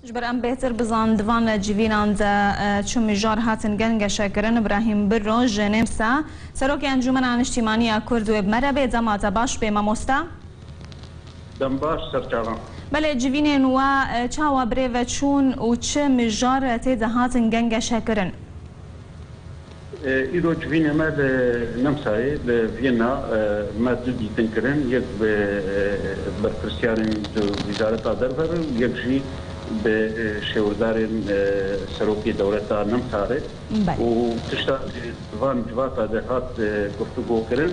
Ji ber em bêhtir bizan di van civînan de çi mijar hatin gengeşe kirin, Brahîm Birro ji Nêmsa, Serokê Encûmena Niştîmanî ya Kurd wê bi me re bê. Dema te baş bê mamosta. Dem baş serçavan. Belê civînên we çawa birêve çûn û çi mijar tê de hatin gengeşe kirin? Îro civînê me li Nemsayê li Viyena me du dîtin kirin, yek bi berpirsyarên di Wizareta Derve re û yek jî bi şêwirdarên Serokê Dewleta Nemsa re û tişta ku di van civata de hat guftugo kirin,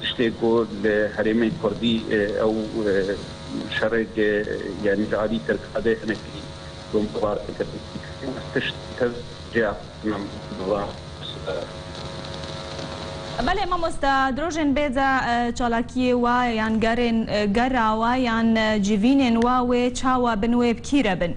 Tiştê ku li herêmên kurdî ew şerêk yanî ji alî Tirkadê hinek tundûbar dikin. Tişt tev cêya xwestinam dizan. Belê mamosta, di rojên bê de çalakiyê wa yan gerên gera wa yan civînên wa wê çawa bin wê bi kî re bin?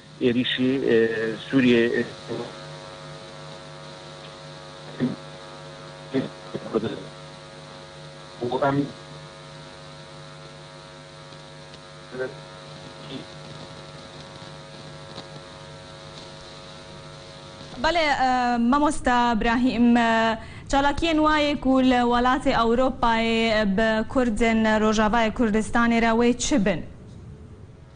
Êrîşî Sûriyeyê Belê mamosta Brahîm, çalakiyên wayê ku li welatê Ewropayê bi kurdên Rojavayê Kurdistanê re wê çi bin?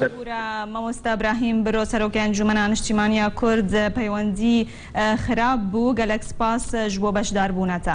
Hûra Mamosta Brahîm biro Serokê Encûmena Niştîmaniya Kurd peywendî xirab bû. Gelek spas ji bo beşdarbûna te.